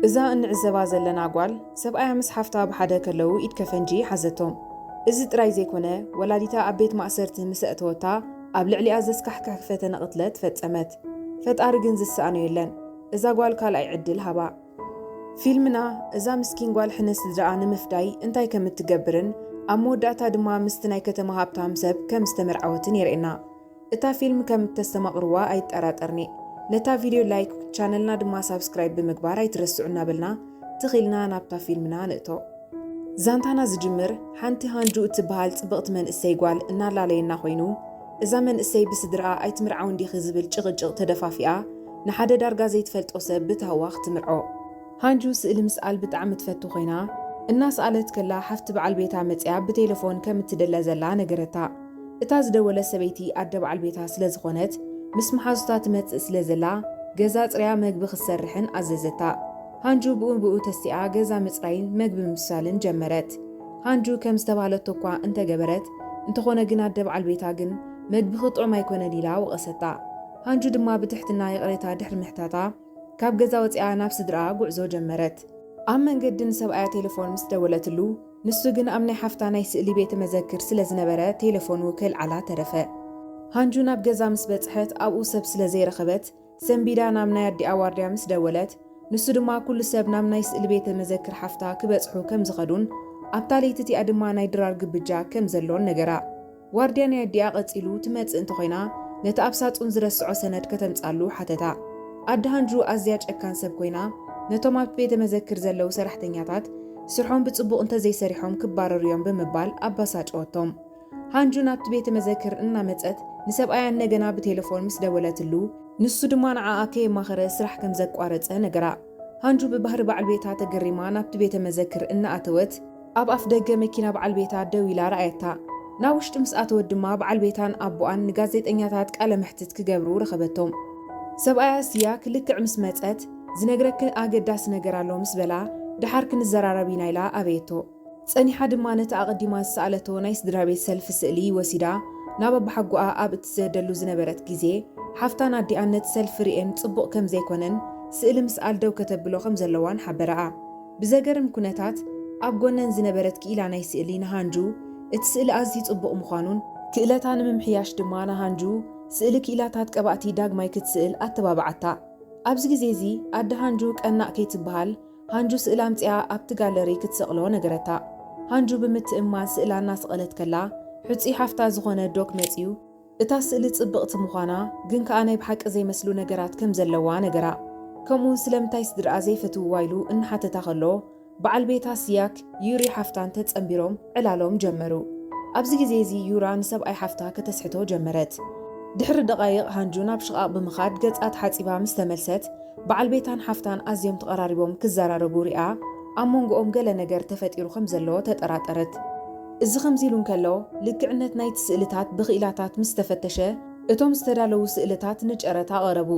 እዛ እንዕዘባ ዘለና ጓል ሰብኣያ ምስ ሓፍታ ብሓደ ከለዉ ኢድ ከፈንጂ ሓዘቶም። እዚ ጥራይ ዘይኮነ ወላዲታ ኣብ ቤት ማእሰርቲ ምስ ኣእተወታ ኣብ ልዕሊኣ ዘስካሕክሕ ፈተነ ቅትለት ፈጸመት። ፈጣሪ ግን ዝሰኣኖ የለን እዛ ጓል ካልኣይ ዕድል ሃባ። ፊልምና እዛ ምስኪን ጓል ሕነ ስድራኣ ንምፍዳይ እንታይ ከምትገብርን ኣብ መወዳእታ ድማ ምስቲ ናይ ከተማ ሃብታም ሰብ ከም ዝተመርዓወትን የርእየና። እታ ፊልም ከም እተስተማቕርዋ ኣይጠራጠርን'የ። ነታ ቪድዮ ላይክ ቻነልና ድማ ሳብስክራይብ ብምግባር ኣይትረስዑ እናበልና ትኽ ኢልና ናብታ ፊልምና ንእቶ። ዛንታና ዝጅምር ሓንቲ ሃንጁ እትበሃል ጽብቕቲ መንእሰይ ጓል እናላለየና ኮይኑ፣ እዛ መንእሰይ ብስድርኣ ኣይትምርዓውን ዲኺ ዝብል ጭቕጭቕ ተደፋፊኣ ንሓደ ዳርጋ ዘይትፈልጦ ሰብ ብታህዋኽ ትምርዖ። ሃንጁ ስእሊ ምስኣል ብጣዕሚ ትፈቱ ኮይና፣ እናስኣለት ከላ ሓፍቲ በዓል ቤታ መጺኣ ብቴለፎን ከም እትድለ ዘላ ነገረታ። እታ ዝደወለት ሰበይቲ ኣደ በዓል ቤታ ስለ ዝኾነት፣ ምስ መሓዙታ ትመጽእ ስለ ዘላ ገዛ ኣጽርያ መግቢ ክትሰርሕን ኣዘዘታ። ሃንጁ ብኡ ንብኡ ተሲኣ ገዛ ምጽራይን መግቢ ምብሳልን ጀመረት። ሃንጁ ከም ዝተባህለቶ'ኳ እንተ ገበረት፣ እንተኾነ ግን ኣደ በዓል ቤታ ግን መግብኺ ጥዑም ኣይኮነን ኢላ ወቐሰታ። ሃንጁ ድማ ብትሕትና ይቕሬታ ድሕሪ ምሕታታ፣ ካብ ገዛ ወጺኣ ናብ ስድርኣ ጉዕዞ ጀመረት። ኣብ መንገዲ ንሰብኣያ ቴለፎን ምስ ደወለትሉ፣ ንሱ ግን ኣብ ናይ ሓፍታ ናይ ስእሊ ቤተ መዘክር ስለ ዝነበረ ቴለፎኑ ከይልዓላ ተረፈ። ሃንጁ ናብ ገዛ ምስ በጽሐት ኣብኡ ሰብ ስለ ዘይረኸበት፣ ሰንቢዳ ናብ ናይ ኣዲኣ ዋርድያ ምስ ደወለት፣ ንሱ ድማ ኩሉ ሰብ ናብ ናይ ስእሊ ቤተ መዘክር ሓፍታ ክበጽሑ ከም ዝኸዱን ኣብታ ለይቲ እቲኣ ድማ ናይ ድራር ግብጃ ከም ዘሎን ነገራ። ዋርድያ ናይ ኣዲኣ ቀጺሉ ትመጽእ እንተኾይና ነቲ ኣብ ሳጹን ዝረስዖ ሰነድ ከተምጻሉ ሓተታ። ኣደ ሃንድሩ ኣዝያ ጨካን ሰብ ኮይና ነቶም ኣብቲ ቤተ መዘክር ዘለዉ ሰራሕተኛታት ስርሖም ብጽቡቕ እንተዘይሰሪሖም ክባረሩ እዮም ብምባል ኣባሳጨወቶም። ሃንጁ ናብቲ ቤተ መዘክር እናመጸት ንሰብኣያ እንደገና ብቴለፎን ምስ ደወለትሉ፣ ንሱ ድማ ንዓኣ ከየማኸረ ስራሕ ከም ዘቋረጸ ነገራ። ሃንጁ ብባህሪ በዓል ቤታ ተገሪማ ናብቲ ቤተ መዘክር እናኣተወት፣ ኣብ ኣፍ ደገ መኪና በዓል ቤታ ደው ኢላ ረኣየታ። ናብ ውሽጢ ምስ ኣተወት ድማ በዓል ቤታን ኣቦኣን ንጋዜጠኛታት ቃለ መሕትት ክገብሩ ረኸበቶም። ሰብኣያ እስያ ክልክዕ ምስ መጸት፣ ዝነግረኪ ኣገዳሲ ነገር ኣሎ ምስ በላ፣ ደሓር ክንዘራረብ ኢና ኢላ ኣበየቶ። ጸኒሓ ድማ ነቲ ኣቐዲማ ዝሰኣለቶ ናይ ስድራቤት ሰልፊ ስእሊ ወሲዳ ናብ ኣባሓጎኣ ኣብ እትሰደሉ ዝነበረት ግዜ፣ ሓፍታን ኣዲኣን ነቲ ሰልፊ ርእየን ጽቡቕ ከም ዘይኮነን ስእሊ ምስኣል ደው ከተብሎ ከም ዘለዋን ሓበራኣ። ብዘገርም ኩነታት ኣብ ጎነን ዝነበረት ክኢላ ናይ ስእሊ ንሃንጁ እቲ ስእሊ ኣዝዩ ጽቡቕ ምዃኑን፣ ክእለታ ንምምሕያሽ ድማ ንሃንጁ ስእሊ ክኢላታት ቀባእቲ ዳግማይ ክትስእል ኣተባብዓታ። ኣብዚ ግዜ እዚ ኣደ ሃንጁ ቀናእ ከይትበሃል ሃንጁ ስእላ ኣምጺኣ ኣብቲ ጋለሪ ክትሰቕሎ ነገረታ። ሃንጁ ብምትእምማን ስእላ እናሰቐለት ከላ ሕጹይ ሓፍታ ዝኾነ ዶክ መጺኡ፣ እታ ስእሊ ጽብቕቲ ምዃና ግን ከኣ ናይ ብሓቂ ዘይመስሉ ነገራት ከም ዘለዋ ነገራ። ከምኡውን ስለምንታይ ስድርኣ ዘይፈትውዋ ኢሉ እናሓተታ ከሎ በዓል ቤታ ስያክ ዩሪ ሓፍታን ተጸንቢሮም ዕላሎም ጀመሩ። ኣብዚ ግዜ እዚ ዩራ ንሰብኣይ ሓፍታ ከተስሕቶ ጀመረት። ድሕሪ ደቓይቕ ሃንጁ ናብ ሽቓቕ ብምኻድ ገጻ ተሓጺባ ምስ ተመልሰት በዓል ቤታን ሓፍታን ኣዝዮም ተቐራሪቦም ክዘራረቡ ሪኣ ኣብ መንጎኦም ገለ ነገር ተፈጢሩ ከም ዘሎ ተጠራጠረት። እዚ ከምዚሉ እንከሎ፣ ልክዕነት ናይቲ ስእልታት ብክኢላታት ምስ ተፈተሸ፣ እቶም ዝተዳለዉ ስእልታት ንጨረታ ቀረቡ።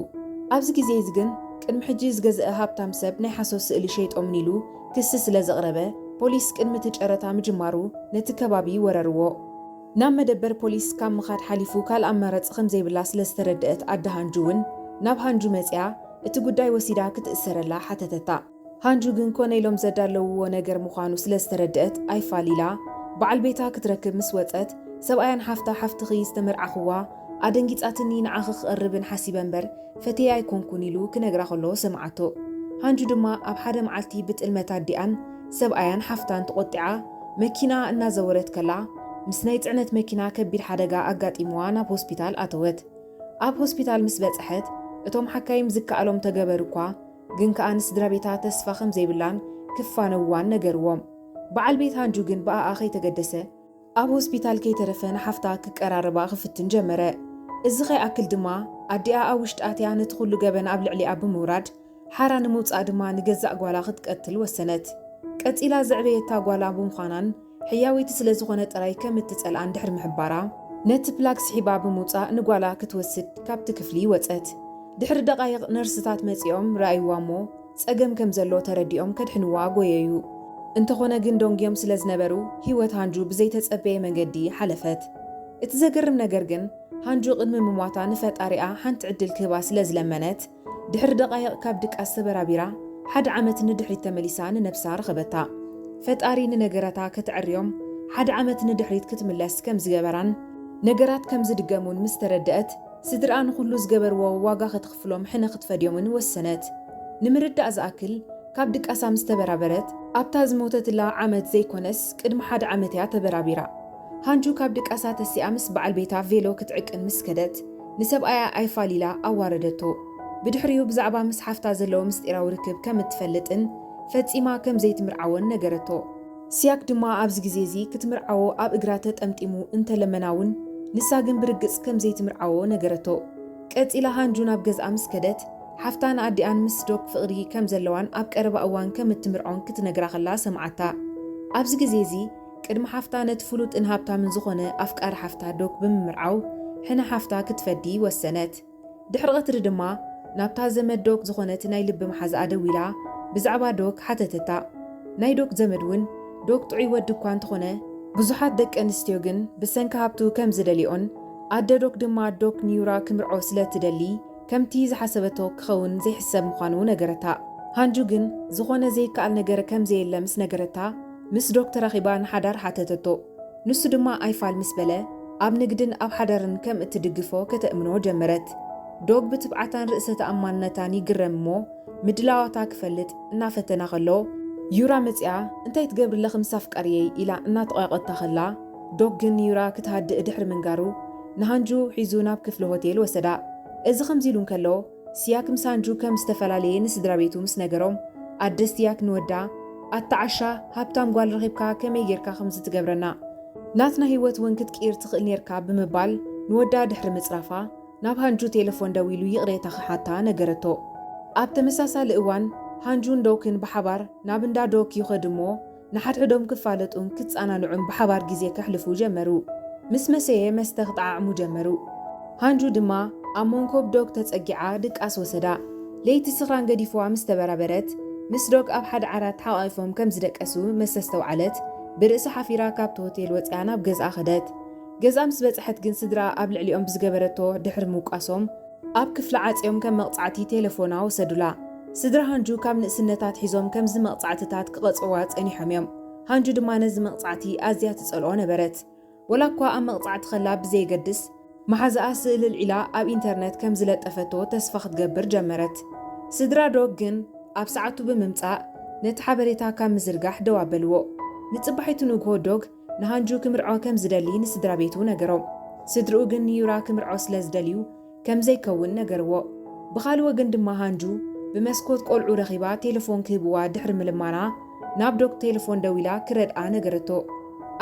ኣብዚ ግዜ'ዚ ግን፣ ቅድሚ ሕጂ ዝገዘኣ ሃብታም ሰብ ናይ ሓሶት ስእሊ ሸይጦምኒ ኢሉ ክሲ ስለ ዘቕረበ፣ ፖሊስ ቅድሚ እቲ ጨረታ ምጅማሩ ነቲ ከባቢ ወረርዎ። ናብ መደበር ፖሊስ ካብ ምኻድ ሓሊፉ ካልእ ኣማራጺ ከም ዘይብላ ስለ ዝተረደኣት ኣደ ሃንጁ'ውን ናብ ሃንጁ መጺኣ እቲ ጉዳይ ወሲዳ ክትእሰረላ ሓተተታ። ሃንጁ ግን ኮነ ኢሎም ዘዳለውዎ ነገር ምዃኑ ስለ ዝተረደኣት ኣይፋል ኢላ በዓል ቤታ ክትረክብ ምስ ወጸት፣ ሰብኣያን ሓፍታ ሓፍትኺ ዝተመርዓኹዋ ኣደንጊጻትኒ ንዓኺ ክቐርብን ሓሲበ እምበር ፈትየ ኣይኮንኩን ኢሉ ክነግራ ከሎ ሰምዓቶ። ሃንጁ ድማ ኣብ ሓደ መዓልቲ ብጥልመት ኣዲኣን ሰብኣያን ሓፍታን ተቖጢዓ መኪንኣ እናዘወረት ከላ ምስ ናይ ጽዕነት መኪና ከቢድ ሓደጋ ኣጋጢምዋ ናብ ሆስፒታል ኣተወት። ኣብ ሆስፒታል ምስ በጸሐት እቶም ሓካይም ዝከኣሎም ተገበሩ'ኳ፣ ግን ከኣ ንስድራ ቤታ ተስፋ ከም ዘይብላን ክፋነውዋን ነገርዎም። በዓል ቤት ሃንጁ ግን ብኣኣ ከይተገደሰ፣ ኣብ ሆስፒታል ከይተረፈ ንሓፍታ ክቀራረባ ክፍትን ጀመረ። እዚ ከይኣክል ድማ ኣዲኣ ኣብ ውሽጢ ኣትያ ነቲ ኩሉ ገበን ኣብ ልዕሊኣ ብምውራድ ሓራ ንምውጻእ ድማ ንገዛእ ጓላ ክትቀትል ወሰነት። ቀጺላ ዘዕበየታ ጓላ ብምዃናን ሕያወይቲ ስለ ዝኾነ ጥራይ ከም እትጸልኣ እንድሕሪ ምሕባራ፣ ነቲ ፕላግ ስሒባ ብምውጻእ ንጓላ ክትወስድ ካብቲ ክፍሊ ወጸት። ድሕሪ ደቓይቕ ነርስታት መጺኦም ረኣዩዋ እሞ ጸገም ከም ዘሎ ተረዲኦም ከድሕኑዋ ጎየዩ። እንተኾነ ግን ደንጉዮም ስለ ዝነበሩ ህይወት ሃንጁ ብዘይተጸበየ መንገዲ ሓለፈት። እቲ ዘገርም ነገር ግን ሃንጁ ቅድሚ ምሟታ ንፈጣሪኣ ሓንቲ ዕድል ክህባ ስለ ዝለመነት፣ ድሕሪ ደቓይቕ ካብ ድቃስ ተበራቢራ ሓደ ዓመት ንድሕሪት ተመሊሳ ንነብሳ ረኸበታ። ፈጣሪ ንነገራታ ከተዐርዮም ሓደ ዓመት ንድሕሪት ክትምለስ ከም ዝገበራን ነገራት ከም ዝድገሙን ምስ ተረደእት ስድርኣ ንኹሉ ዝገበርዎ ዋጋ ከተኽፍሎም ሕነ ክትፈድዮምን ወሰነት። ንምርዳእ ዝኣክል ካብ ድቃሳ ምስ ተበራበረት ኣብታ ዝሞተትላ ዓመት ዘይኮነስ ቅድሚ ሓደ ዓመት እያ ተበራቢራ። ሃንቹ ካብ ድቃሳ ተሲኣ ምስ በዓል ቤታ ቬሎ ክትዕቅን ምስ ከደት፣ ንሰብኣያ ኣይፋል ኢላ ኣዋረደቶ። ብድሕሪኡ ብዛዕባ ምስ ሓፍታ ዘለዎ ምስጢራዊ ርክብ ከም እትፈልጥን ፈጺማ ከም ዘይትምርዓዎን ነገረቶ። ሲያክ ድማ ኣብዚ ግዜ እዚ ክትምርዓዎ ኣብ እግራ ተጠምጢሙ እንተ ለመና እውን፣ ንሳ ግን ብርግጽ ከም ዘይትምርዓዎ ነገረቶ። ቀጺላ ሃንጁ ናብ ገዝኣ ምስ ከደት፣ ሓፍታ ንኣዲኣን ምስ ዶክ ፍቕሪ ከም ዘለዋን ኣብ ቀረባ እዋን ከም እትምርዖን ክትነግራ ከላ ሰምዓታ። ኣብዚ ግዜ እዚ፣ ቅድሚ ሓፍታ ነቲ ፍሉጥን ሃብታምን ዝኾነ ኣፍቃሪ ሓፍታ ዶክ ብምምርዓው ሕነ ሓፍታ ክትፈዲ ወሰነት። ድሕሪ ቐትሪ ድማ ናብታ ዘመድ ዶክ ዝኾነት ናይ ልቢ መሓዝኣ ደዊላ ብዛዕባ ዶክ ሓተተታ። ናይ ዶክ ዘመድ ውን ዶክ ጥዑይ ወዲ እኳ እንተኾነ፣ ብዙሓት ደቂ ኣንስትዮ ግን ብሰንኪ ሃብቱ ከም ዝደልይኦን ኣደ ዶክ ድማ ዶክ ንዩራ ክምርዖ ስለ እትደሊ ከምቲ ዝሓሰበቶ ክኸውን ዘይሕሰብ ምዃኑ ነገረታ። ሃንጁ ግን ዝኾነ ዘይከኣል ነገር ከም ዘየለ ምስ ነገረታ፣ ምስ ዶክ ተራኺባ ንሓዳር ሓተተቶ። ንሱ ድማ ኣይፋል ምስ በለ፣ ኣብ ንግድን ኣብ ሓዳርን ከም እትድግፎ ከተእምኖ ጀመረት። ዶግ ብትብዓታን ርእሰ ተኣማንነታን ይግረም እሞ፣ ምድላዋታ ክፈልጥ እናፈተነ ከሎ፣ ዩራ መጺኣ እንታይ ትገብሪለኺ ምስ ኣፍቃርየይ ኢላ እናተቐየቖታ ከላ፣ ዶግ ግን ንዩራ ክትሃድእ ድሕሪ ምንጋሩ፣ ንሃንጁ ሒዙ ናብ ክፍሊ ሆቴል ወሰዳ። እዚ ከምዚ ኢሉ እንከሎ፣ ሲያክ ምስ ኣንድሩ ከም ዝተፈላለየ ንስድራቤቱ ምስ ነገሮም፣ ኣደ ሲያክ ንወዳ፣ ኣታ ዓሻ፣ ሃብታም ጓል ረኺብካ ከመይ ጌርካ ከምዚ ትገብረና? ናትና ህይወት እውን ክትቅይር ትኽእል ኔርካ ብምባል ንወዳ ድሕሪ ምጽራፋ፣ ናብ ሃንጁ ቴለፎን ደዊሉ ይቕሬታ ክሓታ ነገረቶ። ኣብ ተመሳሳሊ እዋን ሃንጁን ዶክን ብሓባር ናብ እንዳ ዶክ ይኸዱ እሞ፣ ንሓድሕዶም ክፋለጡን ክጸናንዑን ብሓባር ግዜ ከሕልፉ ጀመሩ። ምስ መሰየ መስተ ክጠዓዕሙ ጀመሩ። ሃንጁ ድማ ኣብ መንኮብ ዶግ ተጸጊዓ ድቃስ ወሰዳ። ለይቲ ስኽራን ገዲፉዋ ምስ ተበራበረት፣ ምስ ዶግ ኣብ ሓደ ዓራት ተሓቛቒፎም ከም ዝደቀሱ መሰ ኣስተውዓለት። ብርእሳ ሓፊራ ካብቲ ሆቴል ወጺኣ ናብ ገዝኣ ከደት። ገዝኣ ምስ በጽሐት ግን ስድርኣ ኣብ ልዕሊኦም ብዝገበረቶ ድሕሪ ምውቃሶም፣ ኣብ ክፍሊ ዓጽዮም ከም መቕጻዕቲ ቴለፎና ወሰዱላ። ስድራ ሃንጁ ካብ ንእስነታ ኣትሒዞም ከምዚ መቕጻዕትታት ክቐጽዑዋ ጸኒሖም እዮም። ሃንጁ ድማ ነዚ መቕጻዕቲ ኣዝያ ትጸልኦ ነበረት። ወላኳ ኣብ መቕጻዕቲ ከላ ብዘየገድስ፣ መሓዛኣ ስእሊ ኣልዒላ ኣብ ኢንተርነት ከም ዝለጠፈቶ ተስፋ ክትገብር ጀመረት። ስድራ ዶግ ግን ኣብ ሰዓቱ ብምምጻእ ነቲ ሓበሬታ ካብ ምዝርጋሕ ደው ኣበልዎ። ንጽባሒቱ ንግሆ ዶግ ንሃንጁ ክምርዖ ከም ዝደሊ ንስድራቤቱ ነገሮም። ስድርኡ ግን ንዩራ ክምርዖ ስለ ዝደልዩ ከም ዘይከውን ነገርዎ። ብኻልእ ወገን ድማ ሃንጁ ብመስኮት ቆልዑ ረኺባ ቴለፎን ክህብዋ ድሕሪ ምልማና ናብ ዶክ ቴለፎን ደዊላ ክረድኣ ነገረቶ።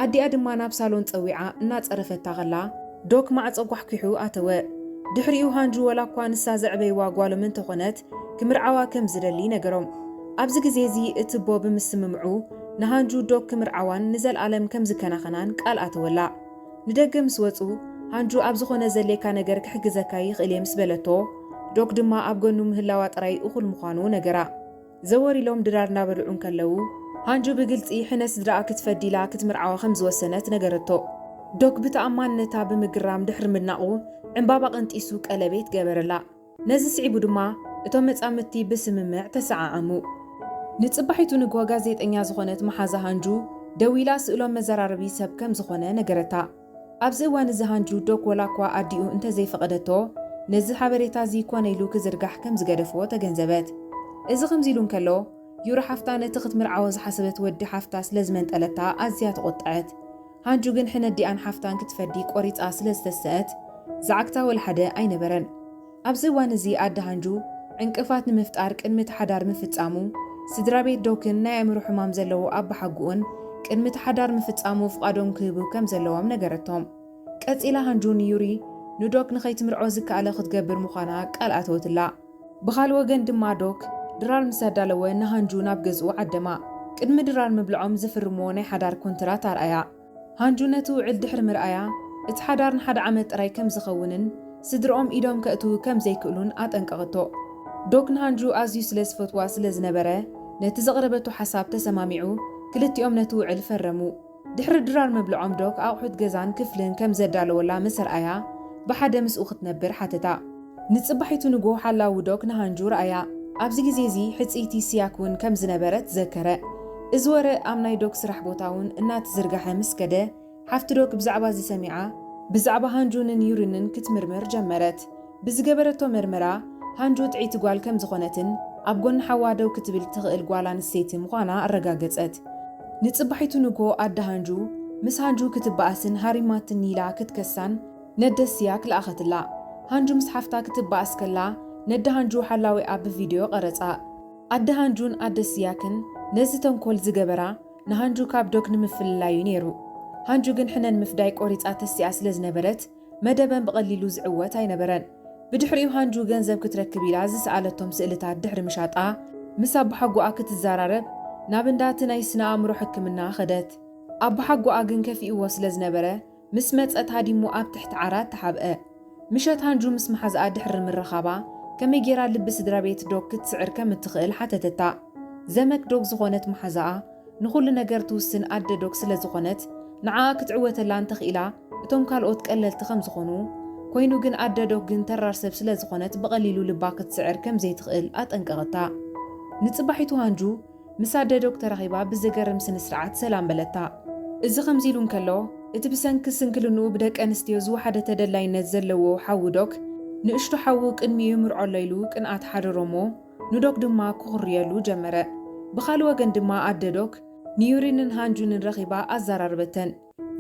ኣዲኣ ድማ ናብ ሳሎን ጸዊዓ እናጸረፈታ ከላ ዶክ ማዕጾ ጓሕጒሑ ኣተወ። ድሕሪኡ ሃንጁ ወላኳ ንሳ ዘዕበይዋ ጓሎም እንተኾነት ክምርዓዋ ከም ዝደሊ ነገሮም። ኣብዚ ግዜ እዚ እቲ ኣቦ ብምስምምዑ ንሃንጁ ዶግ ክምርዓዋን ንዘልኣለም ከም ዝከናኸናን ቃል ኣተወላ። ንደገ ምስ ወጹ፣ ሃንጁ ኣብ ዝኾነ ዘድልየካ ነገር ክሕግዘካ ይኽእል እየ ምስ በለቶ፣ ዶግ ድማ ኣብ ገኑ ምህላዋ ጥራይ እኹል ምዃኑ ነገራ። ዘወር ኢሎም ድራር እናበልዑ እንከለዉ፣ ሃንጁ ብግልጺ ሕነ ስድራኣ ክትፈዲ ኢላ ክትምርዓዋ ከም ዝወሰነት ነገረቶ። ዶግ ብተኣማንነታ ብምግራም ድሕሪ ምድናቑ፣ ዕንባባ ቀንጢሱ ቀለቤት ገበረላ። ነዚ ስዒቡ ድማ እቶም መጻምድቲ ብስምምዕ ተሰዓዓሙ። ንጽባሒቱ ንግሆ ጋዜጠኛ ዝኾነት መሓዛ ሃንጁ ደዊላ ስእሎም መዘራረቢ ሰብ ከም ዝኾነ ነገረታ። ኣብዚ እዋን እዚ ሃንጁ ዶክ ወላኳ ኣዲኡ እንተ ዘይፈቐደቶ ነዚ ሓበሬታ እዚ ኮነ ኢሉ ክዝርጋሕ ከም ዝገደፎ ተገንዘበት። እዚ ከምዚ ኢሉ እንከሎ ዩሪ ሓፍታ ነቲ ክትምርዓዎ ዝሓሰበት ወዲ ሓፍታ ስለ ዝመንጠለታ ኣዝያ ተቖጠዐት። ሃንቹ ግን ሕነዲኣን ሓፍታን ክትፈዲ ቆሪጻ ስለ ዝተሰእት ዝዓግታ ወላሓደ ኣይነበረን። ኣብዚ እዋን እዚ ኣደ ሃንጁ ዕንቅፋት ንምፍጣር ቅድሚ እቲ ሓዳር ምፍጻሙ ስድራቤት ዶክን ናይ ኣእምሮ ሕማም ዘለዎ ኣባሓጉኡን ቅድሚ እቲ ሓዳር ምፍጻሙ ፍቓዶም ክህቡ ከም ዘለዎም ነገረቶም። ቀጺላ ሃንጁ ንዩሪ ንዶክ ንኸይትምርዖ ዝከኣለ ክትገብር ምዃና ቃል ኣተወትላ። ብኻልእ ወገን ድማ ዶክ። ድራር ምስ ኣዳለወ ንሃንጁ ናብ ገዝኡ ዓደማ። ቅድሚ ድራር ምብልዖም ዝፍርምዎ ናይ ሓዳር ኮንትራት ኣርኣያ። ሃንጁ ነቲ ውዕል ድሕሪ ምርኣያ፣ እቲ ሓዳር ንሓደ ዓመት ጥራይ ከም ዝኸውንን ስድርኦም ኢዶም ከእትው ከም ዘይክእሉን ኣጠንቀቐቶ። ዶክ። ንሃንጁ ኣዝዩ ስለ ዝፈትዋ ስለ ዝነበረ፣ ነቲ ዘቕረበቶ ሓሳብ ተሰማሚዑ ክልቲኦም ነቲ ውዕል ፈረሙ። ድሕሪ ድራር ምብልዖም ዶክ ኣቑሑት ገዛን ክፍልን ከም ዘዳለወላ ምስ ርኣያ ብሓደ ምስኡ ክትነብር ሓተታ። ንጽባሒቱ ንግሆ ሓላዊ ዶክ ንሃንጁ ርኣያ። ኣብዚ ግዜ እዚ ሕጽይቲ ሲያክ እውን ከም ዝነበረት ዘከረ። እዚ ወረ ኣብ ናይ ዶክ ስራሕ ቦታ እውን እናተዝርጋሐ ምስ ከደ ሓፍቲ ዶክ ብዛዕባ እዚ ሰሚዓ ብዛዕባ ሃንጁንን ዩሪንን ክትምርምር ጀመረት። ብዝገበረቶ መርመራ ሃንጅ ውጥዒቲ ጓል ከም ዝኾነትን ኣብ ጎኒ ሓዋ ደው ክትብል እትኽእል ጓል ኣንስተይቲ ምዃና ኣረጋገጸት። ንጽባሒቱ ንግሆ ኣደ ሃንጁ ምስ ሃንጁ ክትበኣስን ሃሪማትኒ ኢላ ክትከሳን ነደ ስያክ ለኣኸትላ። ሃንጁ ምስ ሓፍታ ክትበኣስ ከላ ነደ ሃንጁ ሓላዊኣ ብቪደዮ ቀረጻ። ኣደ ሃንጁን ኣደ ስያክን ነዚ ተንኮል ዝገበራ ንሃንጁ ካብ ዶክ ንምፍልላይ'ዩ ነይሩ። ሃንጁ ግን ሕነን ምፍዳይ ቆሪጻ ተሲኣ ስለዝነበረት መደበን ብቐሊሉ ዝዕወት ኣይነበረን። ብድሕሪኡ ሃንጁ ገንዘብ ክትረክብ ኢላ ዝሰኣለቶም ስእልታት ድሕሪ ምሻጣ፣ ምስ ኣቦሓጎኣ ክትዘራረብ ናብ እንዳ እቲ ናይ ስነ-ኣእምሮ ሕክምና ከደት። ኣቦሓጎኣ ግን ከፊኡዎ ስለ ዝነበረ፣ ምስ መጸት ሃዲሙ ኣብ ትሕቲ ዓራት ተሓብአ። ምሸት ሃንጁ ምስ መሓዝኣ ድሕሪ ምርኻባ፣ ከመይ ገይራ ልቢ ስድራቤት ዶግ ክትስዕር ከም እትኽእል ሓተተታ። ዘመክ ዶግ ዝኾነት መሓዛኣ፣ ንኹሉ ነገር ትውስን ኣደ ዶክ ስለ ዝኾነት ንዓኣ ክትዕወተላ እንተኺኢላ እቶም ካልኦት ቀለልቲ ከም ዝኾኑ ኮይኑ ግን ኣደ ዶክ ግን ተራር ሰብ ስለ ዝኾነት ብቐሊሉ ልባ ክትስዕር ከም ዘይትኽእል ኣጠንቀቐታ። ንጽባሒቱ ሃንጁ ምስ ኣደ ዶክ ተራኺባ ብዘገርም ስነ ስርዓት ሰላም በለታ። እዚ ከምዚ ኢሉ እንከሎ እቲ ብሰንኪ ስንክልንኡ ብደቂ ኣንስትዮ ዝወሓደ ተደላይነት ዘለዎ ሓዉ ዶክ ንእሽቶ ሓዉ ቅድሚኡ ይምርዖ ኣሎ ኢሉ ቅንኣት ሓደሮ እሞ፣ ንዶክ ድማ ኩኹርየሉ ጀመረ። ብኻልእ ወገን ድማ ኣደ ዶክ ንዩሪንን ሃንጁንን ረኺባ ኣዛራረበተን።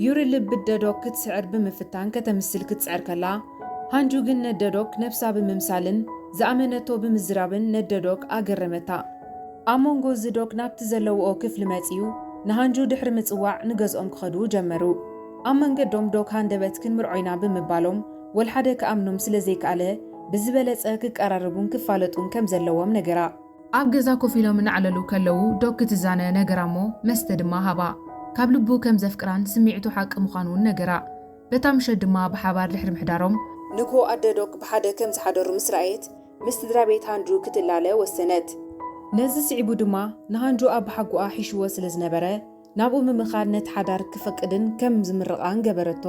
ዩሪ ልቢ ኣደ ዶክ ክትስዕር ብምፍታን ከተምስል ክትጽዕር ከላ፣ ሃንጁ ግን ነደ ዶክ ነብሳ ብምምሳልን ዝኣመነቶ ብምዝራብን ነደ ዶክ ኣገረመታ። ኣብ ሞንጎ እዚ ዶክ ናብቲ ዘለውኦ ክፍሊ መጺኡ ንሃንጁ ድሕሪ ምጽዋዕ ንገዝኦም ክኸዱ ጀመሩ። ኣብ መንገዶም ዶክ ሃንደበት ክንምርዖ ኢና ብምባሎም፣ ወልሓደ ክኣምኖም ስለ ዘይከኣለ፣ ብዝበለጸ ክቀራረቡን ክፋለጡን ከም ዘለዎም ነገራ። ኣብ ገዛ ኮፍ ኢሎም እናዕለሉ ከለዉ፣ ዶክ ትዛነ ነገራ'ሞ መስተ ድማ ሃባ። ካብ ልቡ ከም ዘፍቅራን ስምዒቱ ሓቂ ምዃኑ'ውን ነገራ። በታ ምሸት ድማ ብሓባር ድሕሪ ምሕዳሮም። ንግሆ ኣደ ዶክ ብሓደ ከም ዝሓደሩ ምስ ረኣየት፣ ምስ ስድራቤት ሃንጁ ክትላለ ወሰነት። ነዚ ስዒቡ ድማ ንሃንጁ ኣባሓጎኣ ሒሽዎ ስለ ዝነበረ፣ ናብኡ ምምኻድ ነቲ ሓዳር ክፈቅድን ከም ዝምርቓን ገበረቶ።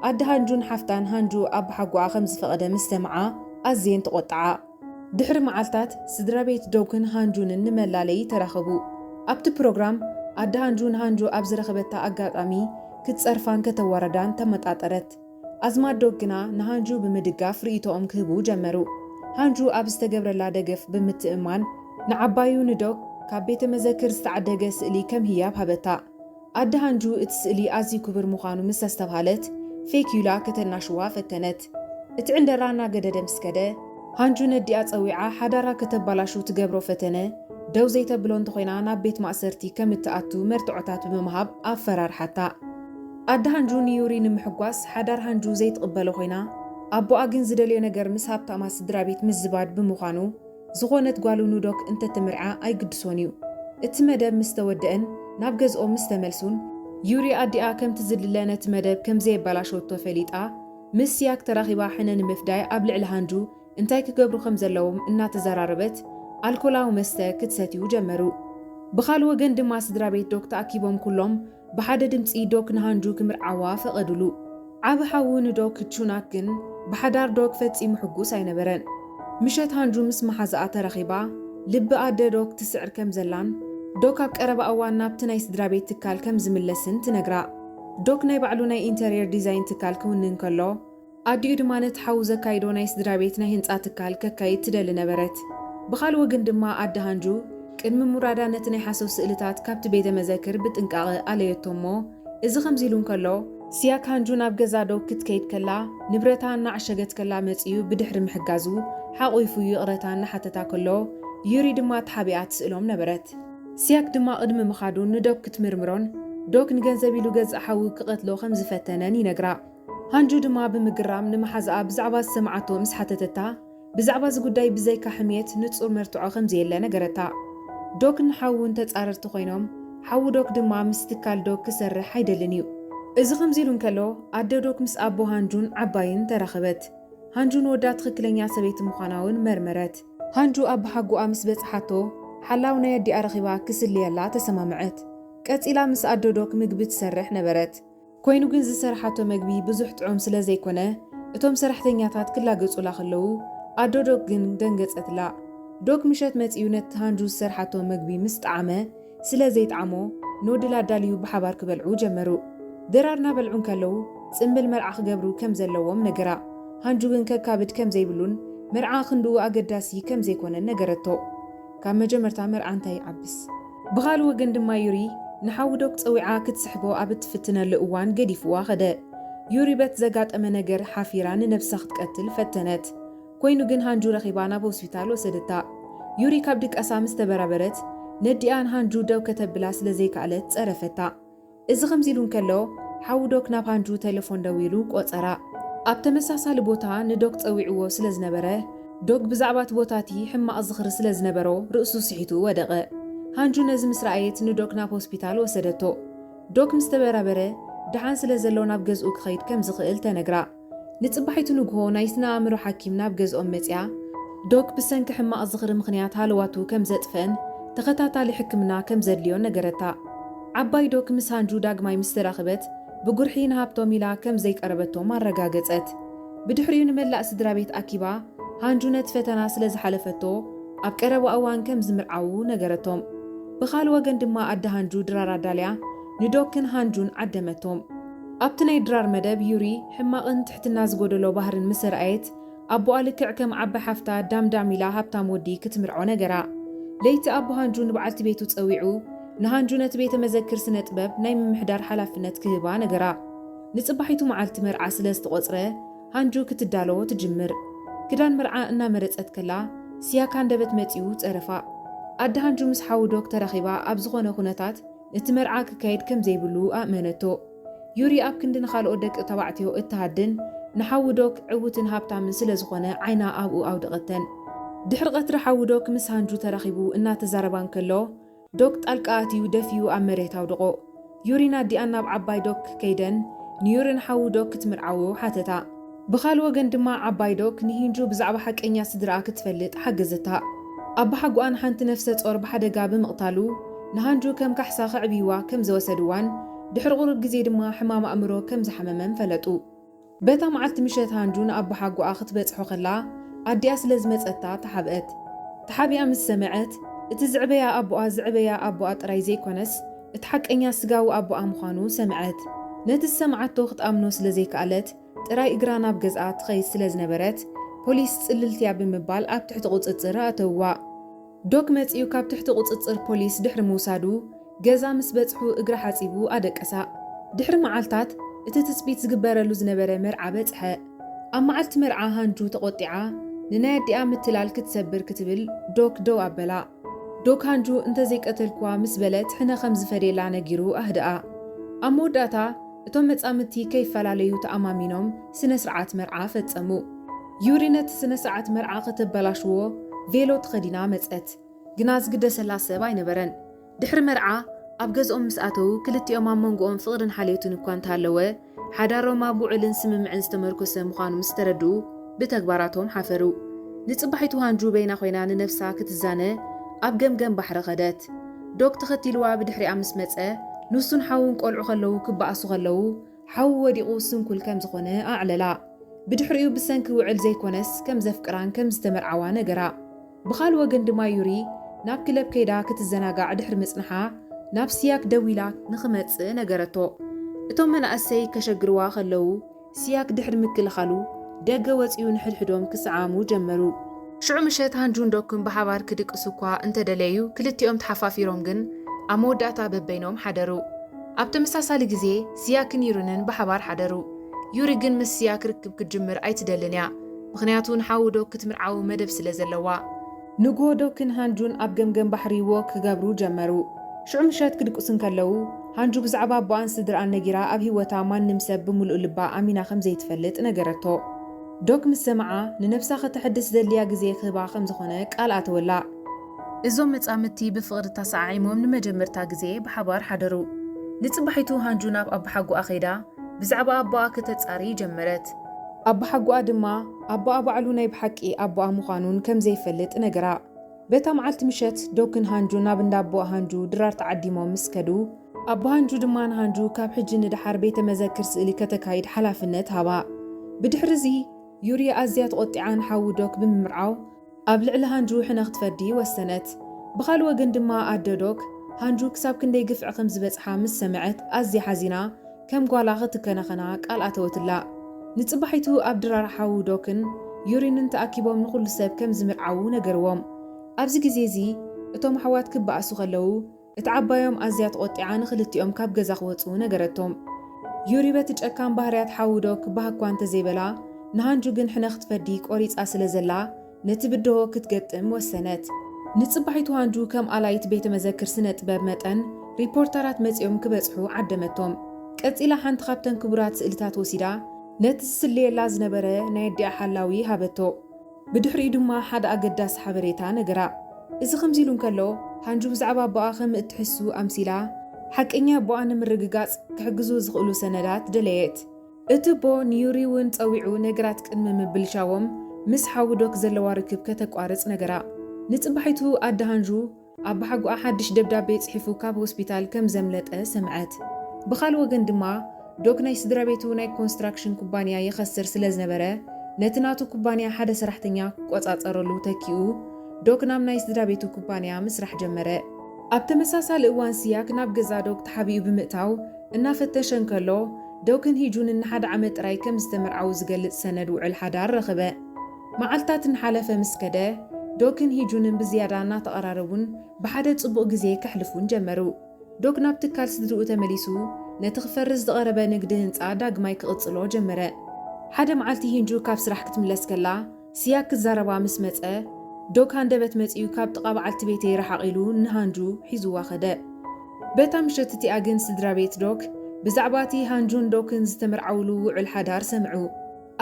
ኣደ ሃንጁን ሓፍታን ሃንጁ ኣቦሓጎኣ ከም ዝፈቐደ ምስ ሰምዓ ኣዝየን ተቖጥዓ። ድሕሪ መዓልታት፣ ስድራቤት ዶግን ሃንጁንን ንመላለዪ ተራኸቡ። ኣብቲ ፕሮግራም፣ ኣደ ሃንጁ ንሃንጁ ኣብ ዝረኸበታ ኣጋጣሚ ክትጸርፋን ከተዋርዳን ተመጣጠረት። ኣዝማድ ዶብ ግና ንሃንጁ ብምድጋፍ ርእይቶኦም ክህቡ ጀመሩ። ሃንጁ ኣብ ዝተገብረላ ደገፍ ብምትእምማን፣ ንዓባዩ ንዶግ ካብ ቤተ መዘክር ዝተዓደገ ስእሊ ከም ህያብ ሃበታ። ኣደ ሃንጁ እቲ ስእሊ ኣዝዩ ክቡር ምዃኑ ምስ ኣስተብሃለት፣ ፌክዩላ ከተናሽዋ ፈተነት። እቲ ዕንደራ እናገደደ ምስ ከደ፣ ሃንጁ ነዲኣ ጸዊዓ ሓዳራ ከተባላሹ ትገብሮ ፈተነ ደው ዘይተብሎ እንተኾይና ናብ ቤት ማእሰርቲ ከም እትኣቱ መርትዖታት ብምሃብ ኣፈራርሓታ። ኣደ ሃንጁ ንዩሪ ንምሕጓስ ሓዳር ሃንጁ ዘይትቕበሎ ኮይና፣ ኣቦኣ ግን ዝደልዮ ነገር ምስ ሃብታማት ስድራቤት ምዝባድ ብምዃኑ፣ ዝኾነት ጓሉ ንዶክ እንተትምርዓ ኣይግድሶን እዩ። እቲ መደብ ምስ ተወደእን ናብ ገዝኦም ምስ ተመልሱን፣ ዩሪ ኣዲኣ ከምቲ ዝድለ ነቲ መደብ ከም ዘየበላሸወቶ ፈሊጣ፣ ምስ ሲያክ ተራኺባ ሕነ ንምፍዳይ ኣብ ልዕሊ ሃንጁ እንታይ ክገብሩ ከም ዘለዎም እናተዘራረበት ኣልኮላዊ መስተ ክትሰትዩ ጀመሩ። ብኻልእ ወገን ድማ ስድራቤት ዶክ ተኣኪቦም ኩሎም ብሓደ ድምጺ ዶክ ንሃንጁ ክምርዓዋ ፈቐዱሉ። ዓቢ ሓዉ ንዶክ ቹናክ ግን ብሓዳር ዶክ ፈጺሙ ሕጉስ ኣይነበረን። ምሸት ሃንጁ ምስ መሓዛኣ ተራኺባ ልቢ ኣደ ዶክ ትስዕር ከም ዘላን ዶክ ኣብ ቀረባ እዋን ናብቲ ናይ ስድራቤት ትካል ከም ዝምለስን ትነግራ። ዶክ ናይ ባዕሉ ናይ ኢንተርየር ዲዛይን ትካል ክውንን ከሎ፣ ኣዲኡ ድማ ነቲ ሓዉ ዘካይዶ ናይ ስድራቤት ናይ ህንጻ ትካል ከካይድ ትደሊ ነበረት። ብኻልእ ወገን ድማ ኣደ ሃንጁ ቅድሚ ምውራዳ ነቲ ናይ ሓሶት ስእልታት ካብቲ ቤተ መዘክር ብጥንቃቐ ኣለዮቶ እሞ እዚ ከምዚ ኢሉ እንከሎ፣ ሲያክ ሃንጁ ናብ ገዛ ዶግ ክትከይድ ከላ ንብረታ እናዓሸገት ከላ መጺኡ ብድሕሪ ምሕጋዙ ሓቝይፉ ይቕረታ እናሓተታ ከሎ ዩሪ ድማ ተሓቢኣ ትስእሎም ነበረት። ሲያክ ድማ ቅድሚ ምኻዱ ንዶግ ክትምርምሮን ዶግ ንገንዘብ ኢሉ ገዛእ ሓዉ ክቐትሎ ከም ዝፈተነን ይነግራ። ሃንጁ ድማ ብምግራም ንመሓዝኣ ብዛዕባ ዝሰምዓቶ ምስ ሓተተታ፣ ብዛዕባ እዚ ጉዳይ ብዘይካ ሕምየት ንጹር መርትዖ ከም ዘየለ ነገረታ። ዶክን ሓዉን ተጻረርቲ ኮይኖም፣ ሓዉ ዶክ ድማ ምስ ትካል ዶክ ክሰርሕ ኣይደልን እዩ። እዚ ከምዚ ኢሉ እንከሎ፣ ኣደ ዶክ ምስ ኣቦ ሃንጁን ዓባይን ተራኸበት። ሃንጁ ንወዳ ትኽክለኛ ሰበይቲ ምዃና'ውን መርመረት። ሃንጁ ኣባሓጎኣ ምስ በጽሓቶ፣ ሓላው ናይ ኣዲኣ ረኺባ ክስልየላ ተሰማምዐት። ቀጺላ ምስ ኣደ ዶክ ምግቢ ትሰርሕ ነበረት። ኮይኑ ግን ዝሰርሓቶ መግቢ ብዙሕ ጥዑም ስለ ዘይኮነ እቶም ሰራሕተኛታት ክላገጹላ ከለዉ ኣዶ ዶግ ግን ደንገጸትላ። ዶግ ምሸት መጺኡ ነቲ ሃንጁ ዝሰርሓቶ መግቢ ምስ ጠዓመ ስለ ዘይጠዓሞ ንወድላ ኣዳልዩ ብሓባር ክበልዑ ጀመሩ። ድራር እናበልዑ እንከለዉ ጽምብል መርዓ ክገብሩ ከም ዘለዎም ነገራ። ሃንጁ ግን ከካብድ ከም ዘይብሉን መርዓ ክንድኡ ኣገዳሲ ከም ዘይኮነን ነገረቶ። ካብ መጀመርታ መርዓ እንታይ ይዓብስ? ብኻልእ ወገን ድማ ዩሪ ንሓዉ ዶክ ጸዊዓ ክትስሕቦ ኣብ እትፍትነሉ እዋን ገዲፍዋ ከደ። ዩሪ በት ዘጋጠመ ነገር ሓፊራ ንነብሳ ክትቀትል ፈተነት። ኮይኑ ግን ሃንጁ ረኺባ ናብ ሆስፒታል ወሰደታ። ዩሪ ካብ ድቃሳ ምስ ተበራበረት ነዲኣ ንሃንጁ ደው ከተብላ ስለ ዘይከኣለት ጸረፈታ። እዚ ከምዚ ኢሉ እንከሎ፣ ሓው ዶክ ናብ ሃንጁ ተለፎን ደዊሉ ቆጸራ። ኣብ ተመሳሳሊ ቦታ ንዶክ ጸዊዕዎ ስለ ዝነበረ፣ ዶክ ብዛዕባ እቲ ቦታ እቲ ሕማቕ ዝኽሪ ስለ ዝነበሮ ርእሱ ስሒቱ ወደቐ። ሃንጁ ነዚ ምስ ረኣየት ንዶክ ናብ ሆስፒታል ወሰደቶ። ዶክ ምስ ተበራበረ፣ ደሓን ስለ ዘሎ ናብ ገዝኡ ክኸይድ ከም ዝኽእል ተነግራ። ንጽባሒቱ ንግሆ ናይ ስነ-ኣእምሮ ሓኪም ናብ ገዝኦም መጺኣ፣ ዶክ ብሰንኪ ሕማቕ ዝኽሪ ምኽንያት ሃለዋቱ ከም ዘጥፍእን ተኸታታሊ ሕክምና ከም ዘድልዮን ነገረታ። ዓባይ ዶክ ምስ ሃንጁ ዳግማይ ምስ ተራኽበት፣ ብጉርሒ ንሃብቶም ኢላ ከም ዘይቀረበቶም ኣረጋገጸት። ብድሕሪኡ ንመላእ ስድራቤት ኣኪባ፣ ሃንጁ ነቲ ፈተና ስለ ዝሓለፈቶ ኣብ ቀረባ እዋን ከም ዝምርዓዉ ነገረቶም። ብኻልእ ወገን ድማ ኣደ ሃንጁ ድራር ኣዳልያ ንዶክን ሃንጁን ዓደመቶም። ኣብቲ ናይ ድራር መደብ ዩሪ ሕማቕን ትሕትና ዝጎደሎ ባህርን ምሰ ረኣየት ኣቦኣ ልክዕ ከም ዓባይ ሓፍታ ዳም ዳም ኢላ ሃብታም ወዲ ክትምርዖ ነገራ። ለይቲ ኣቦ ሃንጁ ንበዓልቲ ቤቱ ጸዊዑ ንሃንጁ ነቲ ቤተ መዘክር ስነ ጥበብ ናይ ምምሕዳር ሓላፍነት ክህባ ነገራ። ንጽባሒቱ መዓልቲ መርዓ ስለ ዝተቖጽረ ሃንጁ ክትዳሎ ትጅምር። ክዳን መርዓ እናመረጸት ከላ ሲያክ ሃንደበት መጺኡ ጸረፋ። ኣደ ሃንጁ ምስ ሓዉ ዶክ ተራኺባ ኣብ ዝኾነ ኩነታት እቲ መርዓ ክካየድ ከም ዘይብሉ ኣእመነቶ። ዩሪ ኣብ ክንዲ ንኻልኦት ደቂ ተባዕትዮ እትሃድን፣ ንሓዉ ዶክ ዕዉትን ሃብታምን ስለ ዝዀነ ዓይና ኣብኡ ኣውደቐተን። ድሕሪ ቐትሪ ሓዉ ዶክ ምስ ሃንጁ ተራኺቡ እናተዛረባ እንከሎ፣ ዶክ ጣልቃ ኣትዩ ደፊኡ ኣብ መሬት ኣውደቖ። ዩሪን ኣዲኣን ናብ ዓባይ ዶክ ከይደን ንዩሪን ሓዉ ዶክ ክትምርዓዎ ሓተታ። ብኻል ወገን ድማ ዓባይ ዶክ ንሂንጁ ብዛዕባ ሓቀኛ ስድርኣ ክትፈልጥ ሓገዘታ። ኣባሓጎኣ ንሓንቲ ነፍሰ-ጾር ብሓደጋ ብምቕታሉ፣ ንሃንጁ ከም ካሕሳ ከዕብዩዋ ከም ዘወሰድዋን ድሕሪ ቁሩብ ግዜ ድማ ሕማም ኣእምሮ ከም ዝሓመመን ፈለጡ። በታ መዓልቲ ምሸት ሃንጁ ንኣባሓጎኣ ክትበጽሖ ከላ ኣዲኣ ስለ ዝመጸታ ተሓብአት። ተሓቢኣ ምስ ሰመዐት፣ እቲ ዝዕበያ ኣቦኣ ዝዕበያ ኣቦኣ ጥራይ ዘይኮነስ እቲ ሓቀኛ ስጋዊ ኣቦኣ ምዃኑ ሰምዐት። ነቲ ዝሰምዓቶ ክትኣምኖ ስለ ዘይከኣለት ጥራይ እግራ ናብ ገዝኣ ትኸይድ ስለ ዝነበረት ፖሊስ ጽልልቲ'ያ ብምባል ኣብ ትሕቲ ቁጽጽር ኣእተውዋ። ዶክ መጺኡ ካብ ትሕቲ ቁጽጽር ፖሊስ ድሕሪ ምውሳዱ ገዛ ምስ በጽሑ እግራ ሓጺቡ ኣደቀሳ። ድሕሪ መዓልታት እቲ ትጽቢት ዝግበረሉ ዝነበረ መርዓ በጽሐ። ኣብ መዓልቲ መርዓ ሃንጁ ተቖጢዓ ንናይ ኣዲኣ ምትላል ክትሰብር ክትብል ዶክ ደው ኣበላ። ዶክ ሃንጁ እንተዘይቀተልኩዋ ምስ በለት ሕነ ከም ዝፈድየላ ነጊሩ ኣህደኣ። ኣብ መወዳእታ እቶም መጻምድቲ ከይፈላለዩ ተኣማሚኖም ስነ-ስርዓት መርዓ ፈጸሙ። ዩሪ ነቲ ስነ-ስርዓት መርዓ ከተበላሽዎ ቬሎ ተኸዲና መጸት። ግና ዝግደሰላ ሰብ ኣይነበረን። ድሕሪ መርዓ ኣብ ገዝኦም ምስ ኣተዉ፣ ክልቲኦም ኣብ መንጎኦም ፍቕርን ሓልዮትን እኳ እንተሃለወ፣ ሓዳሮም ኣብ ውዑልን ስምምዕን ዝተመርኮሰ ምዃኑ ምስ ተረድኡ ብተግባራቶም ሓፈሩ። ንጽባሒቱ ሃንጁ በይና ኮይና ንነብሳ ክትዛነ ኣብ ገምገም ባሕሪ ከደት። ዶብ ተኸቲልዋ ብድሕሪኣ ምስ መጸ፣ ንሱን ሓዉን ቆልዑ ከለዉ ክበኣሱ ከለዉ፣ ሓዉ ወዲቑ ስንኩል ከም ዝኾነ ኣዕለላ። ብድሕሪኡ ብሰንኪ ዉዕል ዘይኮነስ ከም ዘፍቅራን ከም ዝተመርዓዋ ነገራ። ብኻል ወገን ድማ ዩሪ ናብ ክለብ ከይዳ ክትዘናጋዕ ድሕሪ ምጽንሓ ናብ ሲያክ ደዊላ ንኽመጽእ ነገረቶ። እቶም መናእሰይ ከሸግርዋ ከለዉ፣ ሲያክ ድሕሪ ምክልኻሉ፣ ደገ ወጺኡ ንሕድሕዶም ክሰዓዓሙ ጀመሩ። ሽዑ ምሸት ሃንጁን ዶክን ብሓባር ክድቅሱ እኳ እንተ ደለዩ፣ ክልቲኦም ተሓፋፊሮም ግን ኣብ መወዳእታ በበይኖም ሓደሩ። ኣብ ተመሳሳሊ ግዜ፣ ሲያክን ዩሪንን ብሓባር ሓደሩ። ዩሪ ግን ምስ ሲያክ ርክብ ክትጅምር ኣይትደልን እያ፣ ምኽንያቱ ንሓዉ ዶክ ክትምርዓዉ መደብ ስለ ዘለዋ። ንግሆ ዶክን ሃንጁን ኣብ ገምገም ባሕሪ ዎክ ክገብሩ ጀመሩ። ሽዑ ምሸት ክድቅሱ እንከለዉ፣ ሃንጁ ብዛዕባ ኣቦኣን ስድርኣን ነጊራ ኣብ ህይወታ ማንም ሰብ ብምሉእ ልባ ኣሚና ከም ዘይትፈልጥ ነገረቶ። ዶክ ምስ ሰምዓ፣ ንነብሳ ከተሐድስ ዘድልያ ግዜ ክህባ ከም ዝኾነ ቃል ኣተወላ። እዞም መጻምድቲ ብፍቕሪ ተሰዓዒሞም ንመጀመርታ ግዜ ብሓባር ሓደሩ። ንጽባሒቱ ሃንጁ ናብ ኣባሓጎኣ ከይዳ ብዛዕባ ኣቦኣ ከተጻሪ ጀመረት። ኣባሓጎኣ ድማ፣ ኣቦኣ ባዕሉ ናይ ብሓቂ ኣቦኣ ምዃኑ ውን ከም ዘይፈልጥ ነገራ። በታ መዓልቲ ምሸት፣ ዶክን ሃንጁን ናብ እንዳ ኣቦ ሃንጁ፣ ድራር ተዓዲሞም ምስ ከዱ፣ ኣቦ ሃንጁ ድማ ንሃንጁ ካብ ሕጂ ንደሓር ቤተ መዘክር ስእሊ ከተካይድ ሓላፍነት ሃባ። ብድሕሪ እዚ፣ ዩርያ ኣዝያ ተቖጢዓ ንሓዉ ዶክ ብምምርዓው፣ ኣብ ልዕሊ ሃንጁ ሕነ ክትፈዲ ወሰነት። ብኻልእ ወገን ድማ ኣደ ዶክ፣ ሃንጁ ክሳብ ክንደይ ግፍዒ ከም ዝበጽሓ ምስ ሰምዐት ኣዝያ ሓዚና ከም ጓላ ክትከናኸና ቃል ኣተወትላ። ንጽባሒቱ ኣብ ድራር ሓው ዶክን ዩሪንን ተኣኪቦም ንኹሉ ሰብ ከም ዝምርዓዉ ነገርዎም። ኣብዚ ግዜ እዚ እቶም ኣሕዋት ክበኣሱ ከለዉ፣ እቲ ዓባዮም ኣዝያ ተቖጢዓ ንኽልቲኦም ካብ ገዛ ክወጽኡ ነገረቶም። ዩሪ በቲ ጨካን ባህርያት ሓዉ ዶ ክበሃግ'ኳ እንተ ዘይበላ፣ ንሃንጁ ግን ሕነ ክትፈዲ ቆሪጻ ስለ ዘላ፣ ነቲ ብድሆ ክትገጥም ወሰነት። ንጽባሒቱ ሃንጁ ከም ኣላዪት ቤተ መዘክር ስነ ጥበብ መጠን፣ ሪፖርተራት መጺኦም ክበጽሑ ዓደመቶም። ቀጺላ ሓንቲ ካብተን ክቡራት ስእልታት ወሲዳ፣ ነቲ ዝስልየላ ዝነበረ ናይ ኣዲኣ ሓላዊ ሃበቶ። ብድሕሪኡ ድማ ሓደ ኣገዳሲ ሓበሬታ ነገራ። እዚ ከምዚ ኢሉ እንከሎ፣ ሃንጁ ብዛዕባ ኣቦኣ ከም እትሕሱ ኣምሲላ፣ ሓቀኛ ኣቦኣ ንምርግጋጽ ክሕግዙ ዝኽእሉ ሰነዳት ደለየት። እቲ ኣቦ ንዩሪ እውን ጸዊዑ ነገራት ቅድሚ ምብልሻዎም ምስ ሓው ዶክ ዘለዋ ርክብ ከተቋርጽ ነገራ። ንጽባሒቱ ኣደ ሃንዡ ኣባሓጎኣ ሓድሽ ደብዳቤ ጽሒፉ ካብ ሆስፒታል ከም ዘምለጠ ሰምዐት። ብኻልእ ወገን ድማ፣ ዶክ ናይ ስድራቤቱ ናይ ኮንስትራክሽን ኩባንያ የኸስር ስለ ዝነበረ፣ ነቲ ናቱ ኩባንያ ሓደ ሰራሕተኛ ክቆጻጸረሉ ተኪኡ፣ ዶክ ናብ ናይ ስድራቤቱ ኩባንያ ምስራሕ ጀመረ። ኣብ ተመሳሳሊ እዋን ስያክ ናብ ገዛ ዶክ ተሓቢኡ ብምእታው እናፈተሸ እንከሎ፣ ዶክን ሂጁንን ንሓደ ዓመት ጥራይ ከም ዝተመርዓዉ ዝገልጽ ሰነድ ውዕል ሓዳር ረኸበ። መዓልታት እናሓለፈ ምስ ከደ፣ ዶክን ሂጁንን ብዝያዳ እናተቐራረቡን ብሓደ ጽቡቕ ግዜ ከሕልፉን ጀመሩ። ዶክ ናብ ትካል ስድርኡ ተመሊሱ ነቲ ክፈርስ ዝቐረበ ንግዲ ህንጻ ዳግማይ ክቕጽሎ ጀመረ። ሓደ መዓልቲ ሂንጁ ካብ ስራሕ ክትምለስ ከላ ስያክ ክዛረባ ምስ መጸ፣ ዶክ ሃንደበት መጺኡ ካብ ጥቓ በዓልቲ ቤተይ ረሓቕ ኢሉ ንሃንጁ ሒዙዋ ከደ። በታ ምሸት እቲኣ ግን ስድራቤት ዶክ ብዛዕባ እቲ ሃንጁን ዶክን ዝተመርዓውሉ ውዑል ሓዳር ሰምዑ።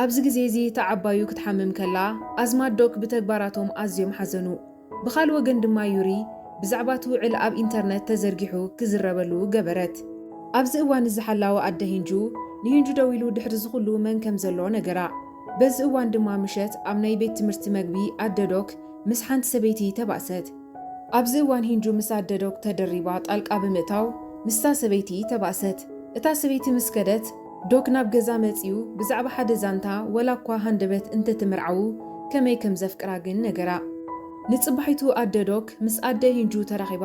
ኣብዚ ግዜ እዚ እታ ዓባዩ ክትሓምም ከላ፣ ኣዝማድ ዶክ ብተግባራቶም ኣዝዮም ሓዘኑ። ብኻልእ ወገን ድማ ዩሪ ብዛዕባ እቲ ውዕል ኣብ ኢንተርነት ተዘርጊሑ ክዝረበሉ ገበረት። ኣብዚ እዋን እዚ ሓላዊ ኣደ ሂንጁ ንሂንጁ ደዊሉ ድሕሪ እዚ ኹሉ መን ከም ዘሎ ነገራ። በዚ እዋን ድማ ምሸት ኣብ ናይ ቤት ትምህርቲ መግቢ ኣደ ዶክ ምስ ሓንቲ ሰበይቲ ተባእሰት። ኣብዚ እዋን ሂንጁ ምስ ኣደ ዶክ ተደሪባ ጣልቃ ብምእታው ምስታ ሰበይቲ ተባእሰት። እታ ሰበይቲ ምስ ከደት፣ ዶክ ናብ ገዛ መጺኡ ብዛዕባ ሓደ ዛንታ ዋላኳ ሃንደበት እንተተመርዓዉ ከመይ ከም ዘፍቅራ ግን ነገራ። ንጽባሒቱ ኣደ ዶክ ምስ ኣደ ሂንጁ ተራኺባ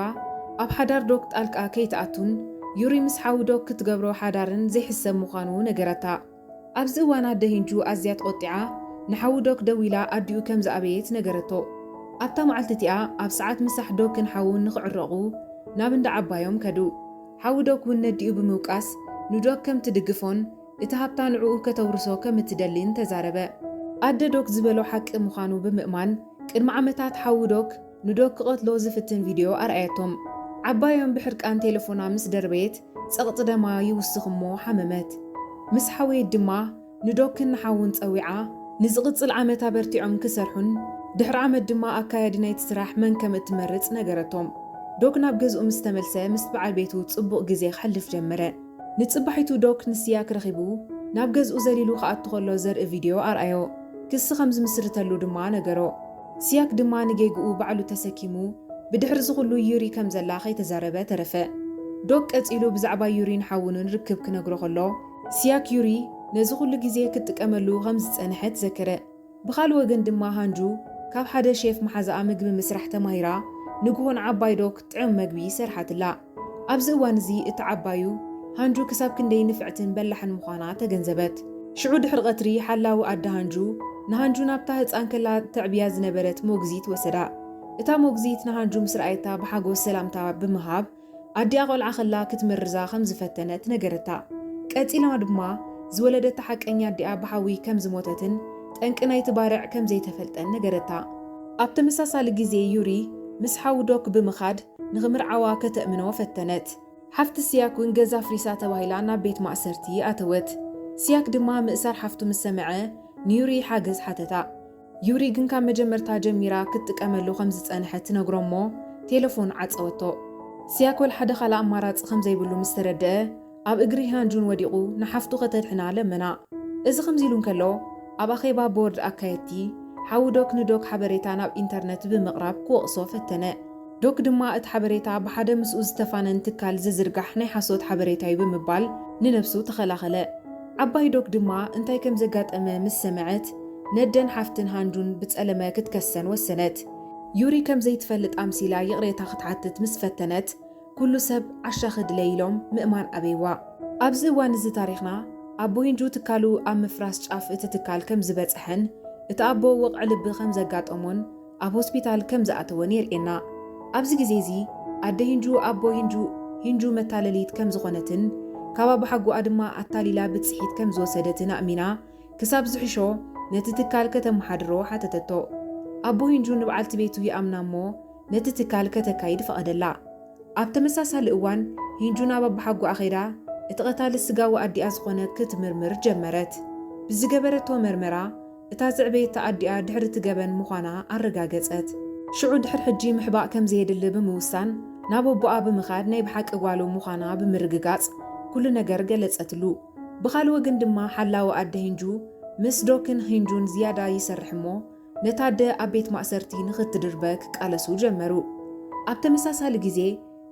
ኣብ ሓዳር ዶክ ጣልቃ ከይትኣቱን ዩሪ ምስ ሓዉ ዶክ ክትገብሮ ሓዳርን ዘይሕሰብ ምዃኑ ነገረታ። ኣብዚ እዋን ኣደ ሂንጁ ኣዝያ ተቖጢዓ ንሓዉ ዶክ ደዊላ ኣዲኡ ከም ዝኣበየት ነገረቶ። ኣብታ መዓልቲ እቲኣ ኣብ ሰዓት ምሳሕ ዶክን ሓዉን ንኽዕረቑ ናብ እንዳ ዓባዮም ከዱ። ሓዊ ዶክ ውን ነዲኡ ብምውቃስ ንዶክ ከም ትድግፎን እቲ ሃብታ ንዕኡ ከተውርሶ ከም እትደሊን ተዛረበ። ኣደ ዶክ ዝበሎ ሓቂ ምዃኑ ብምእማን ቅድሚ ዓመታት ሓዊ ዶክ ንዶክ ክቐትሎ ዝፍትን ቪድዮ ኣርኣየቶም። ዓባዮም ብሕርቃን ቴለፎና ምስ ደርበየት ጸቕጢ ደማ ይውስኽ እሞ ሓመመት። ምስ ሓወየት ድማ ንዶክን ንሓዉን ጸዊዓ ንዝቕጽል ዓመት ኣበርቲዖም ክሰርሑን ድሕሪ ዓመት ድማ ኣካያዲ ናይቲ ስራሕ መን ከም እትመርጽ ነገረቶም። ዶክ ናብ ገዝኡ ምስ ተመልሰ ምስ ብዓል ቤቱ ጽቡቕ ግዜ ከሕልፍ ጀመረ። ንጽባሒቱ ዶክ ንስያክ ረኺቡ ናብ ገዝኡ ዘሊሉ ክኣቱ ከሎ ዘርኢ ቪድዮ ኣርኣዮ። ክሲ ከም ዝምስርተሉ ድማ ነገሮ። ስያክ ድማ ንጌግኡ ባዕሉ ተሰኪሙ ብድሕሪ እዚ ኹሉ ዩሪ ከም ዘላ ከይተዛረበ ተረፈ። ዶክ ቀጺሉ ብዛዕባ ዩሪን ሓዉንን ርክብ ክነግሮ ከሎ፣ ሲያክዩሪ ነዚ ዅሉ ግዜ ክትጥቀመሉ ኸም ዝጸንሐት ዘከረ። ብኻልእ ወገን ድማ ሃንጁ ካብ ሓደ ሼፍ መሓዛኣ ምግቢ ምስራሕ ተማሂራ ንግሆ ንዓባይ ዶክ ጥዑም መግቢ ሰርሓትላ። ኣብዚ እዋን እዚ እታ ዓባዩ ሃንጁ ክሳብ ክንደይ ንፍዕትን በላሕን ምዃና ተገንዘበት። ሽዑ ድሕሪ ቐትሪ ሓላዊ ኣደ ሃንጁ ንሃንጁ ናብታ ህጻን ከላ ተዕብያ ዝነበረት ሞግዚት ወሰዳ። እታ ሞግዚት ንሃንጁ ምስ ረኣየታ ብሓጐስ ሰላምታ ብምሃብ ኣዲኣ ቆልዓ ከላ ክትምርዛ ከም ዝፈተነት ነገረታ። ቀጺላ ድማ ዝወለደታ ሓቀኛ ኣዲኣ ብሓዊ ከም ዝሞተትን ጠንቂ ናይቲ ባርዕ ከም ዘይተፈልጠን ነገረታ። ኣብ ተመሳሳሊ ግዜ ዩሪ ምስ ሓው ዶክ ብምኻድ ንኽምርዓዋ ከተእምኖ ፈተነት። ሓፍቲ ሲያክ እውን ገዛ ኣፍሪሳ ተባሂላ ናብ ቤት ማእሰርቲ ኣተወት። ሲያክ ድማ ምእሳር ሓፍቱ ምስ ሰምዐ ንዩሪ ሓገዝ ሓተታ። ዩሪ ግን ካብ መጀመርታ ጀሚራ ክትጥቀመሉ ከም ዝጸንሐት ትነግሮ'ሞ ቴለፎን ዓጸወቶ። ስያኮል ሓደ ካልእ ኣማራጺ ከም ዘይብሉ ምስ ተረድኣ፣ ኣብ እግሪ ህያን-ጁን ወዲቑ ንሓፍቱ ከተድሕና ለመና። እዚ ከምዚ ኢሉ እንከሎ፣ ኣብ ኣኼባ ቦርድ ኣካየድቲ፣ ሓዉ ዶክ ንዶክ ሓበሬታ ናብ ኢንተርነት ብምቕራብ ክወቕሶ ፈተነ። ዶክ ድማ እቲ ሓበሬታ ብሓደ ምስኡ ዝተፋነን ትካል ዝዝርጋሕ ናይ ሓሶት ሓበሬታ'ዩ ብምባል ንነብሱ ተኸላኸለ። ዓባይ ዶክ ድማ እንታይ ከም ዘጋጠመ ምስ ሰመዐት ነደን ሓፍትን ሃንዱን ብጸለመ ክትከሰን ወሰነት። ዩሪ ከም ዘይትፈልጥ ኣምሲላ ይቕሬታ ክትሓትት ምስ ፈተነት ኩሉ ሰብ ዓሻኺ ድለይ ኢሎም ምእማን ኣበይዋ። ኣብዚ እዋን እዚ ታሪኽና ኣቦ ሂንጁ ትካሉ ኣብ ምፍራስ ጫፍ እቲ ትካል ከም ዝበጸሐን እቲ ኣቦ ወቕዒ ልቢ ከም ዘጋጠሞን ኣብ ሆስፒታል ከም ዝኣተወን የርእየና። ኣብዚ ግዜ እዚ ኣደ ሂንጁ ኣቦ ሂንጁ ሂንጁ መታለሊት ከም ዝኾነትን ካብ ኣባሓጎኣ ድማ ኣታሊላ ብጽሒት ከም ዝወሰደትን ኣእሚና ክሳብ ዝሕሾ ነቲ ትካል ከተመሓድሮ ሓተተቶ። ኣቦ ሂንጁ ንብዓልቲ ቤቱ ይኣምና እሞ ነቲ ትካል ከተካይድ ፈቐደላ። ኣብ ተመሳሳሊ እዋን ሂንጁ ናብ ኣባሓጎኣ ከይዳ እቲ ቀታሊ ስጋዊ ኣዲኣ ዝኾነ ክትምርምር ጀመረት። ብዝገበረቶ መርመራ እታ ዘዕበየታ ኣዲኣ ድሕሪ እቲ ገበን ምዃና ኣረጋገጸት። ሽዑ ድሕሪ ሕጂ ምሕባእ ከም ዘየድሊ ብምውሳን ናብ ኣቦኣ ብምኻድ ናይ ብሓቂ ጓሉ ምዃና ብምርግጋጽ ኩሉ ነገር ገለጸትሉ። ብኻልእ ወግን ድማ ሓላዊ ኣደ ሂንጁ ምስ ዶ ክን ሂንጁን ዝያዳ ይሰርሕ እሞ ነታ ኣደ ኣብ ቤት ማእሰርቲ ንኽትድርበ ክቃለሱ ጀመሩ። ኣብ ተመሳሳሊ ግዜ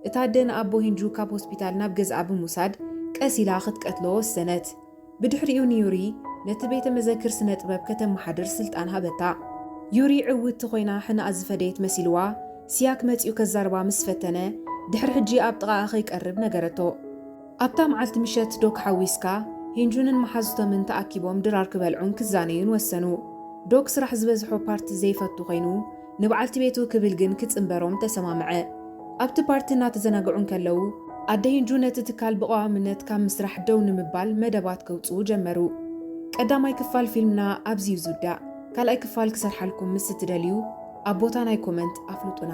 እታ ኣደ ንኣቦ ሂንጁ ካብ ሆስፒታል ናብ ገዝኣ ብምውሳድ ቀስ ኢላ ክትቀትሎ ወሰነት። ብድሕሪኡ ንዩሪ ነቲ ቤተ መዘክር ስነ ጥበብ ከተመሓድር ስልጣን ሃበታ። ዩሪ ዕውትቲ ኮይና ሕነኣ ዝፈደየት መሲልዋ ሲያክ መጺኡ ከዛርባ ምስ ፈተነ ድሕሪ ሕጂ ኣብ ጥቓኣ ከይቀርብ ነገረቶ። ኣብታ መዓልቲ ምሸት ዶክ ሓዊስካ፣ ሂንጁንን መሓዙቶምን ተኣኪቦም ድራር ክበልዑን ክዛነዩን ወሰኑ። ዶክ ስራሕ ዝበዝሖ ፓርቲ ዘይፈቱ ኮይኑ፣ ንበዓልቲ ቤቱ ክብል ግን ክጽንበሮም ተሰማምዐ። ኣብቲ ፓርቲ እናተዘናግዑ እንከለዉ፣ ኣደ ሂንጁ ነቲ ትካል ብቐዋምነት ካብ ምስራሕ ደው ንምባል መደባት ከውጽኡ ጀመሩ። ቀዳማይ ክፋል ፊልምና ኣብዚ'ዩ ዝውዳእ። ካልኣይ ክፋል ክሰርሓልኩም ምስ እትደልዩ ኣብ ቦታ ናይ ኮመንት ኣፍልጡና።